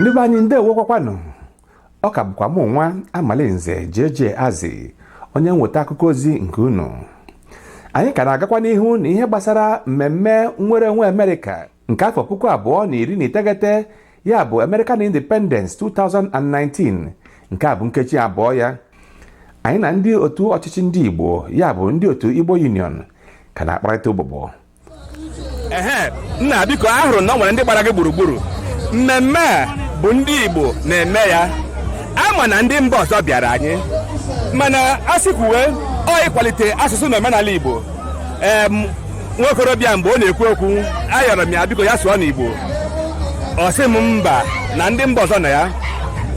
ndị be anyị ndeewokwakwanụ ọ ka bụkwa mụ nwa amalinze jeje azị onye mweta akụkọ ozi nke unu anyị ka na-agakwa n'ihu na ihe gbasara mmemme nnwere onwe amerịka nke afọ puku abụọ na iri na iteghete ya bụ American Independence 2019 nke a bụ nkeji abụọ ya anyị na ndị otu ọchịchị ndị Igbo ya bụ ndị otu Igbo Union ka na-akparịta ụbụbọ ehe nna biko a hụrụ na ọ nwere ndị gbara gị gburugburu mmemme a bụ ndị Igbo na-eme ya a ma na ndị mba ọzọ bịara anyị mana a sị kwuwe ọ ịkwalite asụsụ na omenala Igbo nwa okorobịa mgbe ọ na-ekwu okwu ayọrọ m ya biko ya sụọ n'Igbo ọ sị m mba na ndị mba ọzọ nọ ya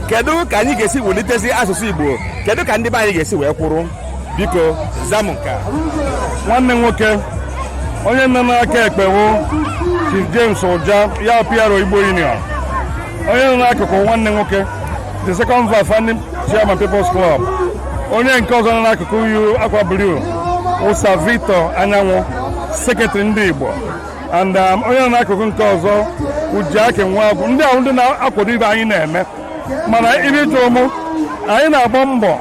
kedu ka anyị ga-esi wulitezi asụsụ Igbo kedu ka ndị be anyị ga-esi wee kwụrụ biko za m nke a nwanne nwoke onye nọ n'aka ekpe wụ Chief James Ụja ya PRO Igbo Union onye nọ n'akụkụ wụ nwanne nwoke the second vice founding chairman people's club onye nke ọzọ nọ n'akụkụ yi akwa blue wụ sir victor anyanwụ sekretrị ndị igbo and um, onye nọ n'akụkụ nke ọzọ wụ ejike nwagwu ndị a wụ ndị na-akwado ihe anyị na-eme mana ihe ị jụụ mụ anyị na-agba mbọ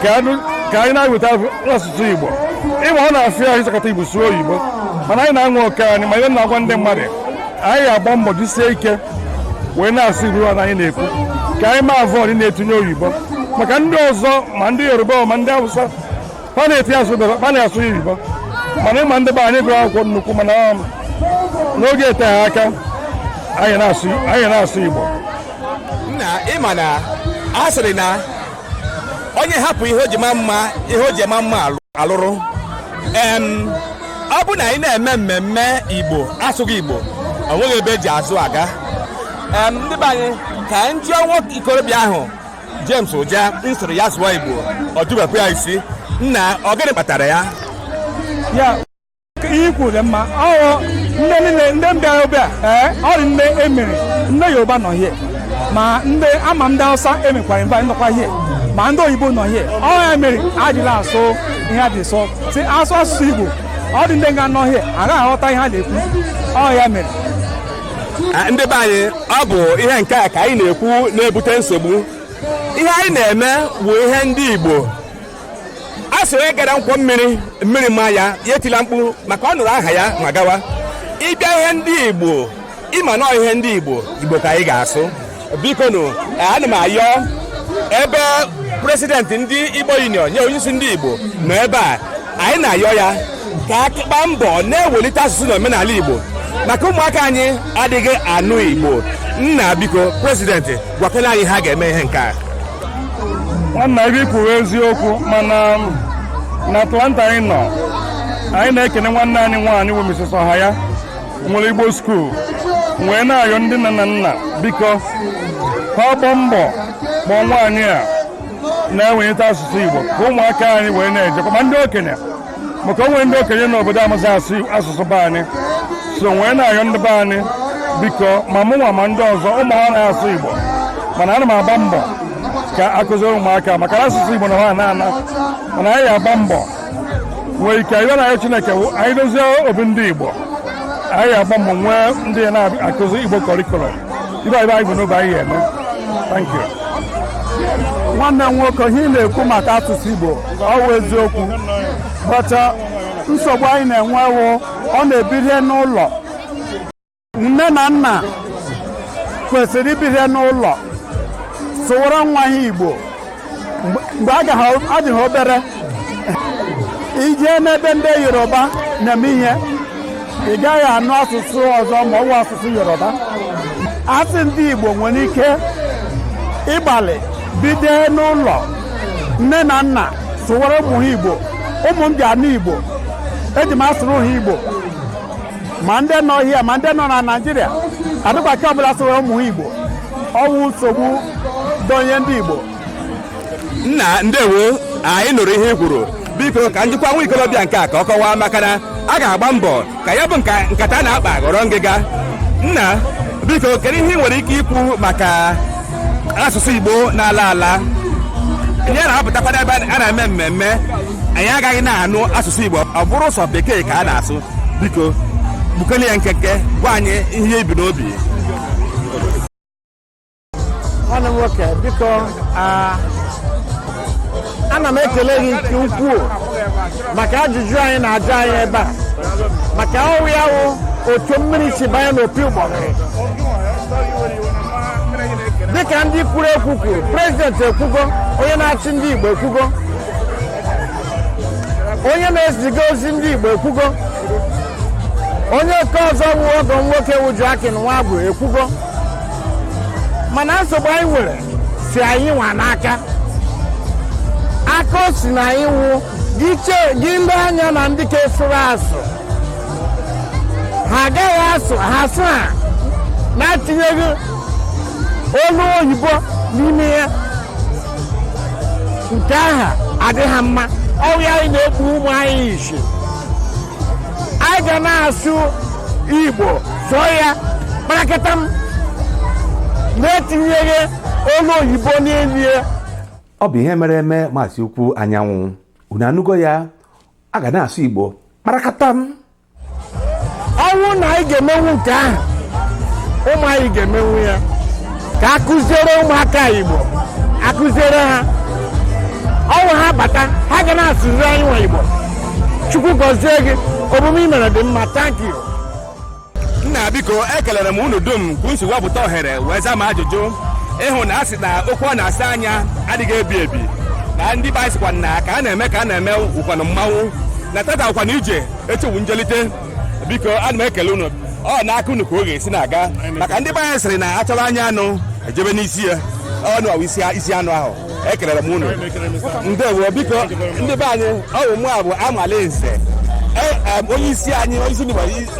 ka anụ- ka anyị na-eweta asụsụ igbo ị ma ọ na-afịa ahụ ịsụkọta igbo sụọ oyibo mana anyị na-anwa oke anyị ma ihe na-agwa ndị mmadụ anyị agba mbọ jisie ike wee na-asụ igbo na anyị na-ekwu ka anyị ma avoid ịna-etinye oyibo maka ndị ọzọ ma ndị yoruba ma ndị awụsa ha na-etinye asụ bekee ha na-asụ oyibo mana ị ma ndị be anyị gụrụ akwụkwọ nnukwu mana um, n'oge eteghị aka anyị na-asụ anyị na-asụ igbo nna ị ma na a sịrị na onye hapụ ihe o ji ma mma ihe o ji ma mma alụ- alụrụ em ọ bụ na anyị na-eme mmemme igbo asụghị igbo o nweghị ebe e ji azụ aga em ndị be anyị ka anyị jụọ nwoke okorobịa ahụ james ụja m sịrị ya sụọ igbo ọ jụbekwa ya isi nna ọ gịnị kpatara ya ya ihe i kwuru dị mma ọghọ ndị niile ndị bịa ebe a ee ọ dị ndị e mere ndị yoruba nọ here ma ndị a ma ndị hausa e mekwara invite nọkwa here ma ndị oyibo nọ here ọ ya mere e ji la-asụ ihe a dị sọ sị asụ asụsụ igbo ọ dị ndị nga nọ here agaghị aghọta ihe a na-ekwu ọ ya mere ndị be anyị ọ bụ ihe nke a ka anyị na-ekwu na-ebute nsogbu ihe anyị na-eme bụ ihe ndị igbo a sị onye gara nkwọ mmiri mmiri ma ya ya etila mkpu maka ọ nụrụ aha ya ma gawa ị bịa ihe ndị igbo ị ma na ọ ihe ndị igbo igbo ka anyị ga-asụ biko nụ ana m ayọ ebe prezidenti ndị igbo union na onyeisi ndị igbo nọ ebe a anyị na-ayọ ya ka a gbaa mbọ na-ewelite asụsụ na omenala igbo maka ụmụaka anyị adịghị anụ igbo nna biko prezidenti gwakene anyị ha ga-eme ihe nke a nwanna ibe i kwuru eziokwu mana na atlanta anyị nọ anyị na-ekene nwanne anyị nwaanyị bụ Mrs. Ọhaya nwere igbo skuul wee na-ayọ ndị nne na nna biko ha gbaa mbọ kpọọ nwaanyị a na-ewelite asụsụ igbo ka ụmụaka anyị wee na-ejekwa ma ndị okenye maka o nwere ndị okenye n'obodo amaghị asụ asụsụ be anyị so wee na-ayọ ndị be anyị biko ma mụ nwa ma ndị ọzọ ụmụ ha na-asụ igbo mana ana m agba mbọ ka a kụziere ụmụaka maka na asụsụ igbo na-ana ana mana anyị agbaa mbọ nwee ike wee na-ayọ chineke anyị dozie obi ndị igbo anyị agbaa mbọ nwee ndị ya na-akụzi igbo curriculum ibe ibe anyị bụ n'oge anyị eme thank you nwanne m nwoke ihe ị na-ekwu maka asụsụ igbo ọ wụ eziokwu but uh, nsogbu anyị na-enwe wụ ọ na-ebido n'ụlọ nne na nna kwesịrị ibido n'ụlọ sụwara nwa ha igbo mgbe a adị ha obere i jee n'ebe ndị yoruba na-eme ihe ị gaghị anụ asụsụ ọzọ ma ọ wụ asụsụ yoruba a sị ndị igbo nwere ike ịgbalị bido n'ụlọ nne na nna sụwara ụmụ ha igbo ụmụ m ji anụ igbo eji m asụrụ ha igbo ma ndị nọ here ma ndị nọ na naijiria adịkwa ka ọbụla sụwara ụmụ ha igbo ọ wụ nsogbu donye ndị Igbo nna ndewo anyị nụrụ ihe i kwuru biko ka m jụkwaa nwa ikolobịa nke a ka ọ kọwaa maka na a ga-agba mbọ ka ya bụ nkata a na-akpa ghọrọ ngịga nna biko kedu ihe ị nwere ike ikwu maka asụsụ Igbo na-ala ala anyị na-apụtakwara ebe a na-eme mmemme anyị agaghị na-anụ asụsụ Igbo ọ bụrụ sọ bekee ka a na-asụ biko gbukene ya nkenke gwa anyị ihe i bu n'obi nwanne m nwoke biko ana m ekele gị nke ukwuu maka ajụjụ a ị na-ajụ anyị ebe a maka ọ wụ ya wụ otu mmiri si banye n'opi ụgbọgụrụ dịka ndị kwuru ekwu kwuru prezidenti ekwugo onye na-achị ndị Igbo ekwugo onye na-eziga ozi ndị Igbo ekwugo onye nke ọzọ wu ọgọ nwoke wuju akị na nwa bụ ekwugo mana nsogbu anyị nwere si anyị nwa n'aka aka o si na anyị wụ gị lee anya na ndị ka esoro asụ ha agaghị asụ ha sụọ ya na-etinyeghị olu oyibo n'ime ya nke ahụ adịghị mma ọ wụ anyị na-ekpu ụmụ anyị isi a ga na-asụ igbo sụọ ya kparakata m na-etinyeghị olu oyibo n'elu ya ọ bụ ihe mere eme maazị ukwu anyanwụ unu anụgo ya a ga na-asụ igbo kparakata m ọ wụ na anyị ga-emenwu nke ahụ ụmụ anyị ga-emenwu ya ka akụziere ụmụaka igbo akụziere ha ọ wụ ha bata ha ga na-asụzi anyị nwa igbo chukwu gọzie gị omume i mere dị mma thank you nna biko ekelere m unu dum ka unu si wepụta ohere wee zaa m ajụjụ ịhụ na a sị na okwu a na-asọ anya adịghị ebi ebi na ndị be anyị sịkwa na ka a na-eme ka a na-eme wụkwanụ mmanwụ na tata wụkwanụ ije echi wụ njelite biko ana m ekele unu ọ na-aka unu ka ọ ga-esi na-aga maka ndị be anyị sịrị na a chọba anya anụ e jebe n'isi ya unu wụ isi anụ ahụ ekelere m unu ndewo biko ndị be anyị ọ wụ mụa bụ amala nze e, onye isi anyị onye isi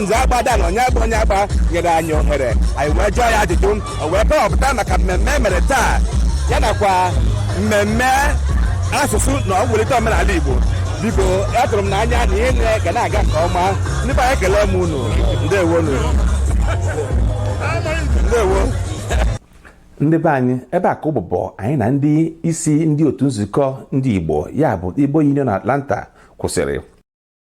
nze agba dan onyeagba onyeagba nyere anyị ohere anyị wee jụọ ya ajụjụ o wee kọwapụta maka mmemme e mere taa ya nakwa mmemme asụsụ na mwulite omenala igbo biko atụrụ m n'anya na ihe niile ga na-aga nke ọma ndị be anyị ekele m unu ndewonu ndewo ndị be anyị ebe a ka ụbụbọ anyị na ndị isi ndị otu nzukọ ndị igbo ya bụ igbo union atlanta kwụsịrị